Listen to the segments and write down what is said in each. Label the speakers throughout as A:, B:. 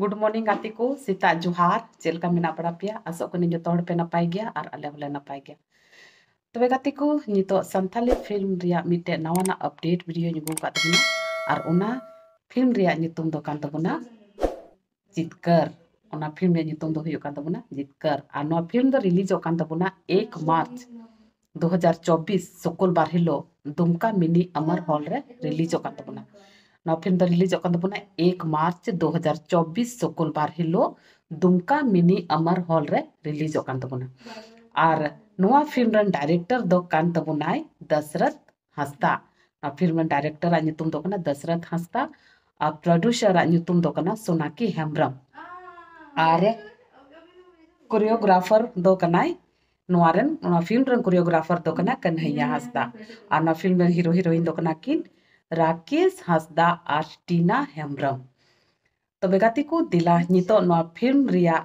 A: Good morning ᱜᱟᱛᱮ ᱠᱚ ᱥᱮᱛᱟᱜ ᱡᱚᱦᱟᱨ ᱪᱮᱫ ᱞᱮᱠᱟ ᱢᱮᱱᱟᱜ ᱵᱟᱲᱟ ᱯᱮᱭᱟ ᱟᱥᱚᱜ ᱠᱟᱹᱱᱟᱹᱧ ᱡᱚᱛᱚ ᱦᱚᱲ ᱯᱮ ᱱᱟᱯᱟᱭ ᱜᱮᱭᱟ ᱟᱨ ᱟᱞᱮ ᱦᱚᱸᱞᱮ ᱱᱟᱯᱟᱭ ᱜᱮᱭᱟ ᱛᱚᱵᱮ ᱜᱟᱛᱮ ᱠᱚ ᱱᱤᱛᱚᱜ ᱥᱟᱱᱛᱟᱞᱤ ᱯᱷᱤᱞᱢ ᱨᱮᱭᱟᱜ ᱢᱤᱫᱴᱮᱡ ᱱᱟᱣᱟᱱᱟᱜ ᱟᱯᱰᱮᱴ ᱵᱷᱤᱰᱤᱭᱳᱧ ᱟᱹᱜᱩ ᱟᱠᱟᱫ ᱛᱟᱵᱚᱱᱟ ᱟᱨ ᱚᱱᱟ ᱯᱷᱤᱞᱢ ᱨᱮᱭᱟᱜ ᱧᱩᱛᱩᱢ ᱫᱚ ᱠᱟᱱ ᱛᱟᱵᱚᱱᱟ ᱡᱤᱛᱠᱟᱹᱨ ᱚᱱᱟ ᱯᱷᱤᱞᱢ ᱨᱮᱭᱟᱜ ᱧᱩᱛᱩᱢ ᱫᱚ ᱦᱩᱭᱩᱜ ᱠᱟᱱ ᱛᱟᱵᱚᱱᱟ ᱡᱤᱛᱠᱟᱹᱨ ᱟᱨ ᱱᱚᱣᱟ ᱯᱷᱤᱞᱢ ᱫᱚ ᱨᱤᱞᱤᱡᱚᱜ ᱠᱟᱱ ᱛᱟᱵᱚᱱᱟ ᱮᱠ ᱢᱟᱨᱪ ᱫᱩ ᱦᱟᱡᱟᱨ ᱪᱚᱵᱵᱤᱥ ᱥᱩᱠᱩᱞ ᱵᱟᱨ ᱦᱤᱞᱳᱜ ᱫᱩᱢᱠᱟ ᱢᱤᱱᱤ ᱟᱢᱟᱨ ᱦᱚᱞ ᱨᱮ ᱨᱤᱞᱤᱡᱚᱜ ᱠᱟᱱ ᱛᱟᱵᱚᱱᱟ ᱱᱚᱣᱟ ᱯᱷᱤᱞᱢ ᱫᱚ ᱨᱤᱞᱤᱡᱚᱜ ᱠᱟᱱ ᱛᱟᱵᱚᱱᱟ ᱮᱠ ᱢᱟᱨᱪ ᱫᱩ ᱦᱟᱡᱟᱨ ᱪᱚᱵᱵᱤᱥ ᱥᱩᱠᱩᱞ ᱵᱟᱨ ᱦᱤᱞᱳᱜ ᱫᱩᱢᱠᱟ ᱢᱤᱱᱤ ᱟᱢᱟᱨ ᱦᱚᱞ ᱨᱮ ᱨᱤᱞᱤᱡᱚᱜ ᱠᱟᱱ ᱛᱟᱵᱚᱱᱟ ᱟᱨ ᱱᱚᱣᱟ ᱯᱷᱤᱞᱢ ᱨᱮᱱ ᱰᱟᱭᱨᱮᱠᱴᱚᱨ ᱫᱚ ᱠᱟᱱ ᱛᱟᱵᱚᱱᱟᱭ ᱫᱚᱥᱨᱚᱛᱷ ᱦᱟᱸᱥᱫᱟ ᱟᱨ ᱯᱷᱤᱞᱢ ᱨᱮᱱ ᱰᱟᱭᱨᱮᱠᱴᱚᱨ ᱟᱜ ᱧᱩᱛᱩᱢ ᱫᱚ ᱠᱟᱱᱟ ᱫᱚᱥᱨᱚᱛᱷ ᱦᱟᱸᱥᱫᱟ ᱟᱨ ᱯᱨᱚᱰᱩᱥᱟᱨ ᱟᱜ ᱧᱩᱛᱩᱢ ᱫᱚ ᱠᱟᱱᱟ ᱥᱳᱱᱟᱠᱤ ᱦᱮᱢᱵᱨᱚᱢ ᱟᱨ ᱠᱳᱨᱤᱭᱳᱜᱨᱟᱯᱷᱟᱨ ᱫᱚ ᱠᱟᱱᱟᱭ ᱱᱚᱣᱟ ᱨᱮᱱ ᱱᱚᱣᱟ ᱯᱷᱤᱞᱢ ᱨᱮᱱ ᱠᱳᱨᱤᱭᱳᱜᱨᱟᱯᱷᱟᱨ ᱫᱚ ᱠᱟᱱᱟ ᱠᱟᱱᱦᱟᱭᱭᱟ ᱦᱟᱸᱥᱫᱟ ᱟᱨ ᱱᱚᱣᱟ ᱯᱷᱤᱞᱢ ᱨᱮᱱ ᱦᱤᱨᱳ ᱦᱤᱨᱳᱭᱤᱱ ᱫᱚ ᱠᱟᱱᱟ ᱠᱤᱱ ᱨᱟᱠᱮᱥ ᱦᱟᱸᱥᱫᱟ ᱟᱨ ᱴᱤᱱᱟ ᱦᱮᱢᱵᱨᱚᱢ ᱛᱚᱵᱮ ᱜᱟᱛᱮ ᱠᱚ ᱫᱮᱞᱟ ᱱᱤᱛᱚᱜ ᱱᱚᱣᱟ ᱯᱷᱤᱞᱢ ᱨᱮᱭᱟᱜ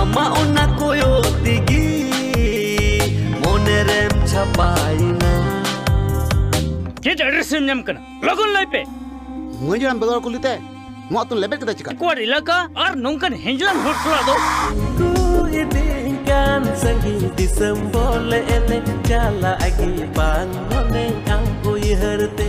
A: ᱟᱢᱟᱜ ᱚᱱᱟ ᱠᱚᱭᱚᱜ ᱛᱮᱜᱮ ᱢᱚᱱᱮ ᱨᱮᱢ ᱪᱷᱟᱯᱟᱭᱮᱱᱟ ᱪᱮᱫ ᱮᱰᱨᱮᱥ ᱮᱢ ᱧᱟᱢ ᱠᱟᱱᱟ ᱞᱚᱜᱚᱱ ᱞᱟᱹᱭ ᱯᱮ ᱢᱟᱹᱡᱽ ᱦᱟᱲᱟᱢ ᱵᱮᱜᱚᱨ ᱠᱩᱞᱤ ᱛᱮ ᱢᱚᱜ ᱛᱚ ᱞᱮᱵᱮᱫ ᱠᱮᱫᱟ ᱪᱤᱠᱟ ᱠᱚᱣᱟᱨ ᱤᱞᱟᱠᱟ ᱟᱨ ᱱᱚᱝᱠᱟᱱ ᱦᱮᱸᱡᱞᱟᱢ ᱦᱚᱲ ᱥᱟᱞᱟᱜ ᱫᱚ ᱠᱩ ᱤᱫᱤ ᱠᱟᱱ ᱥᱟᱺᱜᱤ ᱫᱤᱥᱚᱢ ᱵᱚᱞ ᱮᱱᱮ ᱪᱟᱞᱟ ᱟᱜᱤ ᱵᱟᱝ ᱢᱚᱱᱮ ᱟᱢ ᱩᱭᱦᱟᱹᱨ ᱛᱮ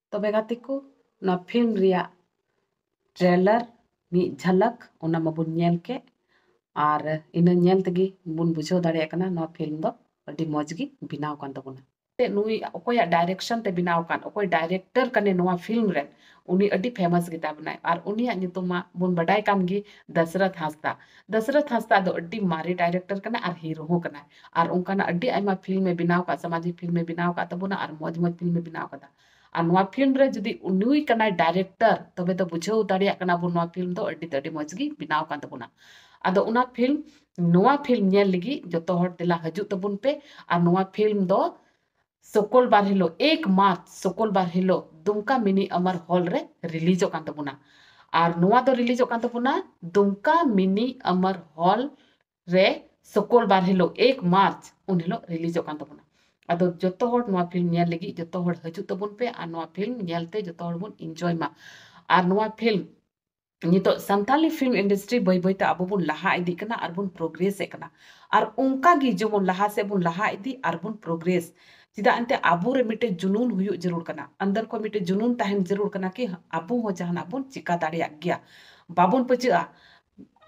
A: ᱛᱚᱵᱮ ᱜᱟᱛᱮ ᱠᱚ ᱱᱚᱣᱟ ᱯᱷᱤᱞᱢ ᱨᱮᱭᱟᱜ ᱴᱨᱮᱞᱟᱨ ᱢᱤᱫ ᱡᱷᱟᱞᱟᱠ ᱚᱱᱟ ᱢᱟᱵᱚᱱ ᱧᱮᱞ ᱠᱮᱫ ᱟᱨ ᱤᱱᱟᱹ ᱧᱮᱞ ᱛᱮᱜᱮ ᱵᱚᱱ ᱵᱩᱡᱷᱟᱹᱣ ᱫᱟᱲᱮᱭᱟᱜ ᱠᱟᱱᱟ ᱱᱚᱣᱟ ᱯᱷᱤᱞᱢ ᱫᱚ ᱟᱹᱰᱤ ᱢᱚᱡᱽ ᱜᱮ ᱵᱮᱱᱟᱣ ᱠᱟᱱ ᱛᱟᱵᱚᱱᱟ ᱱᱩᱭ ᱚᱠᱚᱭᱟᱜ ᱰᱟᱭᱨᱮᱠᱥᱚᱱ ᱛᱮ ᱵᱮᱱᱟᱣ ᱠᱟᱱ ᱚᱠᱚᱭ ᱰᱟᱭᱨᱮᱠᱴᱚᱨ ᱠᱟᱱᱮ ᱱᱚᱣᱟ ᱯᱷᱤᱞᱢ ᱨᱮ ᱩᱱᱤ ᱟᱹᱰᱤ ᱯᱷᱮᱢᱟᱥ ᱜᱮᱛᱟ ᱵᱚᱱᱟᱭ ᱟᱨ ᱩᱱᱤᱭᱟᱜ ᱧᱩᱛᱩᱢ ᱢᱟ ᱵᱚᱱ ᱵᱟᱰᱟᱭ ᱠᱟᱱ ᱜᱮ ᱫᱟᱥᱨᱚᱛᱷ ᱦᱟᱸᱥᱫᱟ ᱫᱟᱥᱨᱚᱛᱷ ᱦᱟᱸᱥᱫᱟ ᱫᱚ ᱟᱹᱰᱤ ᱢᱟᱨᱮ ᱰᱟᱭᱨᱮᱠᱴᱚᱨ ᱠᱟᱱᱟ ᱟᱨ ᱦᱤᱨᱳ ᱦᱚᱸ ᱠᱟᱱᱟᱭ ᱟᱨ ᱚᱱᱠᱟᱱᱟᱜ ᱟᱹᱰᱤ ᱟᱭᱢᱟ ᱯᱷᱤᱞᱢ ᱮ ᱵᱮᱱᱟᱣ ᱟᱠᱟᱫ ᱥᱟᱢᱟᱡᱤᱠ ᱯᱷᱤᱞᱢ ᱮ ᱵᱮᱱᱟᱣ ᱟᱠᱟᱫ ᱛᱟᱵᱚᱱᱟ ᱟᱨ ᱢᱚᱡᱽ ᱢᱚᱡᱽ ᱯᱷᱤᱞᱢ ᱮ ᱵᱮᱱᱟᱣ ᱟᱠᱟᱫᱟ ᱟᱨ ᱱᱚᱣᱟ ᱯᱷᱤᱞᱢ ᱨᱮ ᱡᱩᱫᱤ ᱩᱱᱩᱭ ᱠᱟᱱᱟᱭ ᱰᱟᱭᱨᱮᱠᱴᱚᱨ ᱛᱚᱵᱮ ᱫᱚ ᱵᱩᱡᱷᱟᱹᱣ ᱫᱟᱲᱮᱭᱟᱜ ᱠᱟᱱᱟ ᱵᱚᱱ ᱱᱚᱣᱟ ᱯᱷᱤᱞᱢ ᱫᱚ ᱟᱹᱰᱤ ᱛᱮ ᱟᱹᱰᱤ ᱢᱚᱡᱽ ᱜᱮ ᱵᱮᱱᱟᱣ ᱟᱠᱟᱱ ᱛᱟᱵᱚᱱᱟ ᱟᱫᱚ ᱚᱱᱟ ᱯᱷᱤᱞᱢ ᱱᱚᱣᱟ ᱯᱷᱤᱞᱢ ᱧᱮᱞ ᱞᱟᱹᱜᱤᱫ ᱡᱚᱛᱚ ᱦᱚᱲ ᱫᱮᱞᱟ ᱦᱤᱡᱩᱜ ᱛᱟᱵᱚᱱ ᱯᱮ ᱟᱨ ᱱᱚᱣᱟ ᱯᱷᱤᱞᱢ ᱫᱚ ᱥᱚᱠᱚᱞ ᱵᱟᱨ ᱦᱤᱞᱳᱜ ᱮᱠ ᱢᱟᱨᱪ ᱥᱚᱠᱚᱞ ᱵᱟᱨ ᱦᱤᱞᱳᱜ ᱫᱩᱢᱠᱟ ᱢᱤᱱᱤ ᱟᱢᱟᱨ ᱦᱚᱞ ᱨᱮ ᱨᱤᱞᱤᱡᱚᱜ ᱠᱟᱱ ᱛᱟᱵᱚᱱᱟ ᱟᱨ ᱱᱚᱣᱟ ᱫᱚ ᱨᱤᱞᱤᱡᱚᱜ ᱠᱟᱱ ᱛᱟᱵᱚᱱᱟ ᱫᱩᱢᱠᱟ ᱢᱤᱱᱤ ᱟᱢᱟᱨ ᱦᱚᱞ ᱨᱮ ᱥᱚᱠᱚᱞ ᱵᱟᱨ ᱦᱤᱞᱳᱜ ᱮᱠ ᱢᱟᱨᱪ ᱩᱱ ᱦᱤᱞᱳᱜ ᱨᱤᱞᱤᱡᱚᱜ ᱠᱟᱱ ᱛᱟᱵᱚᱱᱟ ᱟᱫᱚ ᱡᱚᱛᱚ ᱦᱚᱲ ᱱᱚᱣᱟ ᱯᱷᱤᱞᱢ ᱧᱮᱞ ᱞᱟᱹᱜᱤᱫ ᱡᱚᱛᱚ ᱦᱚᱲ ᱦᱤᱡᱩᱜ ᱛᱟᱵᱚᱱ ᱯᱮ ᱟᱨ ᱱᱚᱣᱟ ᱯᱷᱤᱞᱢ ᱧᱮᱞᱛᱮ ᱡᱚᱛᱚ ᱦᱚᱲ ᱵᱚᱱ ᱤᱱᱡᱚᱭ ᱢᱟ ᱟᱨ ᱱᱚᱣᱟ ᱯᱷᱤᱞᱢ ᱱᱤᱛᱚᱜ ᱥᱟᱱᱛᱟᱞᱤ ᱯᱷᱤᱞᱢ ᱤᱱᱰᱟᱥᱴᱨᱤ ᱵᱟᱹᱭ ᱵᱟᱹᱭᱛᱮ ᱟᱵᱚ ᱵᱚᱱ ᱞᱟᱦᱟ ᱤᱫᱤᱜ ᱠᱟᱱᱟ ᱟᱨ ᱵᱚᱱ ᱯᱨᱳᱜᱨᱮᱥ ᱮᱫ ᱠᱟᱱᱟ ᱟᱨ ᱚᱱᱠᱟ ᱜᱮ ᱡᱮᱢᱚᱱ ᱞᱟᱦᱟ ᱥᱮᱫ ᱵᱚᱱ ᱞᱟᱦᱟ ᱤᱫᱤ ᱟᱨ ᱵᱚᱱ ᱯᱨᱳᱜᱨᱮᱥ ᱪᱮᱫᱟᱜ ᱮᱱᱛᱮ ᱟᱵᱚ ᱨᱮ ᱢᱤᱫᱴᱮᱡ ᱡᱩᱱᱩᱱ ᱦᱩᱭᱩᱜ ᱡᱟᱹᱨᱩᱲ ᱠᱟᱱᱟ ᱟᱱᱫᱟᱨ ᱠᱷᱚᱱ ᱢᱤᱫᱴᱮᱡ ᱡᱩᱱᱩᱱ ᱛᱟᱦᱮᱱ ᱡᱟᱹᱨᱩᱲ ᱠᱟᱱᱟ ᱠᱤ ᱟᱵᱚ ᱦᱚᱸ ᱡᱟᱦᱟᱱᱟᱜ ᱵᱚᱱ ᱪᱤᱠᱟ ᱫᱟᱲᱮᱭᱟᱜ ᱜᱮᱭᱟ ᱵᱟᱵᱚᱱ ᱯᱟᱹᱪᱟᱹᱜᱼᱟ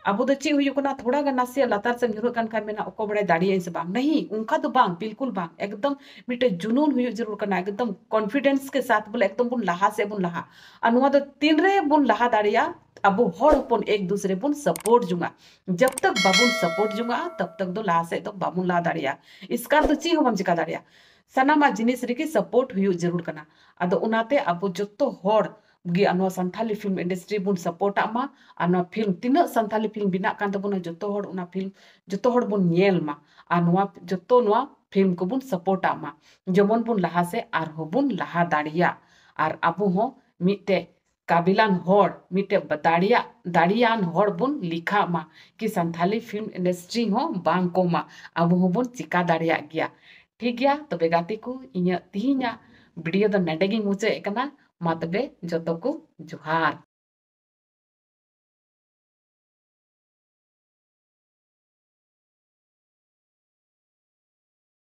A: ᱟᱵᱚ ᱫᱚ ᱪᱮᱫ ᱦᱩᱭᱩᱜ ᱠᱟᱱᱟ ᱛᱷᱚᱲᱟ ᱜᱟᱱ ᱱᱟᱥᱮᱭᱟᱜ ᱞᱟᱛᱟᱨ ᱥᱮᱫ ᱧᱩᱨᱦᱟᱹᱜ ᱠᱟᱱ ᱠᱷᱟᱱ ᱢᱮᱱᱟ ᱚᱠᱚᱭ ᱵᱟᱲᱟᱭ ᱫᱟᱲᱮᱭᱟᱜ ᱟᱹᱧ ᱥᱮ ᱵᱟᱝ ᱱᱟᱹᱦᱤ ᱚᱱᱠᱟ ᱫᱚ ᱵᱟᱝ ᱵᱤᱞᱠᱩᱞ ᱵᱟᱝ ᱮᱠᱫᱚᱢ ᱢᱤᱫᱴᱮᱡ ᱡᱩᱱᱩᱱ ᱦᱩᱭᱩᱜ ᱡᱟᱹᱨᱩᱲ ᱠᱟᱱᱟ ᱮᱠᱫᱚᱢ ᱠᱚᱱᱯᱷᱤᱰᱮᱱᱥ ᱠᱮ ᱥᱟᱛ ᱵᱚᱞᱮ ᱮᱠᱫᱚᱢ ᱵᱚᱱ ᱞᱟᱦᱟ ᱥᱮᱫ ᱵᱚᱱ ᱞᱟᱦᱟᱜ ᱟᱨ ᱱᱚᱣᱟ ᱫᱚ ᱛᱤᱱ ᱨᱮ ᱵᱚᱱ ᱞᱟᱦᱟ ᱫᱟᱲᱮᱭᱟᱜᱼᱟ ᱟᱵᱚ ᱦᱚᱲ ᱦᱚᱯᱚᱱ ᱮᱠ ᱫᱩᱥᱨᱮ ᱵᱚᱱ ᱥᱟᱯᱳᱨᱴ ᱡᱚᱝᱟ ᱡᱟᱵ ᱛᱟᱠ ᱵᱟᱵᱚᱱ ᱥᱟᱯᱳᱨᱴ ᱡᱚᱝᱟ ᱛᱟᱵ ᱛᱟᱠ ᱫᱚ ᱞᱟᱦᱟ ᱥᱮᱫ ᱫᱚ ᱵᱟᱵᱚᱱ ᱞᱟᱦᱟ ᱫᱟᱲᱮᱭᱟᱜᱼᱟ ᱤᱥᱠᱟᱨ ᱫᱚ ᱪᱮᱫ ᱦᱚᱸ ᱵᱟᱢ ᱪᱮᱠᱟ ᱫᱟᱲᱮᱭᱟᱜᱼᱟ ᱥᱟᱱᱟᱢᱟᱜ ᱡᱤᱱᱤᱥ ᱨᱮᱜᱮ ᱥᱟᱯᱳᱨᱴ ᱦᱩᱭᱩᱜ ᱡᱟᱹᱨᱩᱲ ᱠᱟᱱᱟ ᱟᱫᱚ ᱚᱱᱟᱛᱮ ᱟᱵᱚ ᱡᱚᱛᱚ ᱦᱚᱲ ᱜᱮ ᱟᱨ ᱱᱚᱣᱟ ᱥᱟᱱᱛᱷᱟᱞᱤ ᱯᱷᱤᱞᱢ ᱤᱱᱰᱟᱥᱴᱨᱤ ᱵᱚᱱ ᱥᱟᱯᱚᱨᱴᱟᱜ ᱢᱟ ᱟᱨ ᱱᱚᱣᱟ ᱯᱷᱤᱞᱢ ᱛᱤᱱᱟᱹᱜ ᱥᱟᱱᱛᱷᱟᱞᱤ ᱯᱷᱤᱞᱢ ᱵᱮᱱᱟᱜ ᱠᱟᱱ ᱛᱟᱵᱚᱱᱟ ᱡᱚᱛᱚ ᱦᱚᱲ ᱚᱱᱟ ᱯᱷᱤᱞᱢ ᱡᱚᱛᱚ ᱦᱚᱲ ᱵᱚᱱ ᱧᱮᱞ ᱢᱟ ᱟᱨ ᱱᱚᱣᱟ ᱡᱚᱛᱚ ᱱᱚᱣᱟ ᱯᱷᱤᱞᱢ ᱠᱚᱵᱚᱱ ᱥᱟᱯᱚᱨᱴᱟᱜ ᱢᱟ ᱡᱮᱢᱚᱱ ᱵᱚᱱ ᱞᱟᱦᱟ ᱥᱮᱫ ᱟᱨᱦᱚᱸ ᱵᱚᱱ ᱞᱟᱦᱟ ᱫᱟᱲᱮᱭᱟᱜ ᱟᱨ ᱟᱵᱚ ᱦᱚᱸ ᱢᱤᱫᱴᱮᱡ ᱠᱟᱵᱤᱞᱟᱱ ᱦᱚᱲ ᱢᱤᱫᱴᱮᱡ ᱫᱟᱲᱮᱭᱟᱜ ᱫᱟᱲᱮᱭᱟᱱ ᱦᱚᱲ ᱵᱚᱱ ᱞᱮᱠᱷᱟᱜ ᱢᱟ ᱠᱤ ᱥᱟᱱᱛᱷᱟᱞᱤ ᱯᱷᱤᱞᱢ ᱤᱱᱰᱟᱥᱴᱨᱤ ᱦᱚᱸ ᱵᱟᱝ ᱠᱚᱢᱟ ᱟᱵᱚ ᱦᱚᱸᱵᱚᱱ ᱪᱤᱠᱟ ᱫᱟᱲᱮᱭᱟᱜ ᱜᱮᱭᱟ ᱴᱷᱤᱠ ᱜᱮᱭᱟ ᱛᱚᱵᱮ ᱜᱟᱛᱮ ᱠᱚ ᱤᱧᱟᱹᱜ ᱛᱤᱦᱤᱧᱟᱜ ᱵᱷᱤᱰᱤᱭᱳ ᱫᱚ ᱱᱮᱰᱮ ᱜᱤᱧ ᱢᱩᱪᱟᱹᱫ ᱮᱫ ᱠᱟᱱᱟ ᱢᱟ ᱛᱚᱵᱮ ᱡᱚᱛᱚ ᱠᱚ ᱡᱚᱦᱟᱨ᱾